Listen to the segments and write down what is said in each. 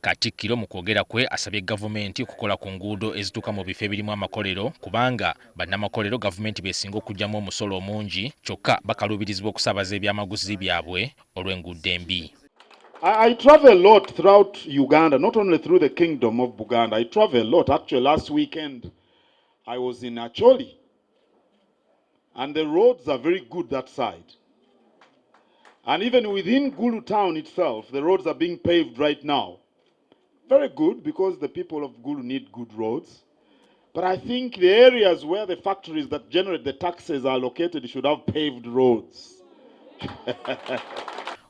Katikkiro mu kwogera kwe asabye gavumenti okukola ku nguudo ezituuka mu bifo ebirimu amakolero kubanga bannamakolero gavumenti besinga okugyamu omusolo omungi kyokka bakaluubirizibwa okusaabaza ebyamaguzi byabwe olw'enguudo embi. I, I travel a lot throughout Uganda, not only through the kingdom of Buganda. I travel a lot. Actually, last weekend I was in Acholi. and the roads are very good that side. And even within Gulu town itself, the roads are being paved right now. Very good because the people of Gulu need good roads. But I think the areas where the factories that generate the taxes are located should have paved roads.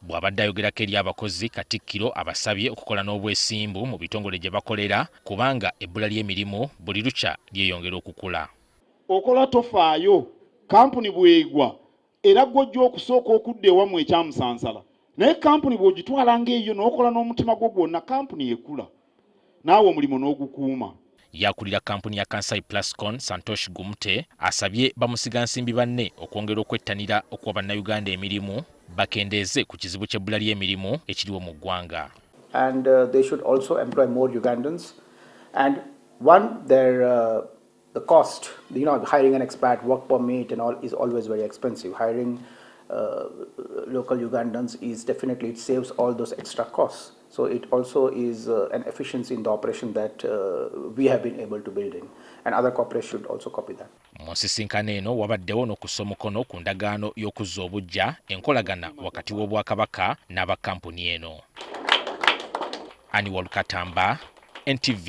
bw'abadde ayogerako eri abakozi katikkiro abasabye okukola n'obwesimbu mu bitongole gye bakolera kubanga ebbula ly'emirimu buli lukya lyeyongera okukula okola tofaayo, kkampuni bw'egwa era ggwe ojja okusooka okudda ewammwe e Kyamusansala naye kkampuni bw'ogitwala ng'eyiyo n'okola n'omutima gwo gwonna kkampuni ekula naawe omulimu n'ogukuuma. Yakulira kkampuni ya Kansai Plascon, Santosh Gumte asabye bamusigansimbi banne okwongera okwettanira okuwa Bannayuganda emirimu bakendeeze ku kizibu ky'ebbula ly'emirimu ekiriwo mu ggwanga. And, uh, they should also employ more Ugandans. And one, their, uh... The cost, you know, hiring an expat, work permit and all is always very expensive. Hiring uh, local Ugandans is definitely, it saves all those extra costs. So it also is uh, an efficiency in the operation that uh, we have been able to build in. And other corporations should also copy that. mu nsisinkano eno wabaddewo n'okussa omukono ku ndagaano y'okuzza obuggya enkolagana wakati w'obwakabaka n'abakampuni eno aniwol katamba ntv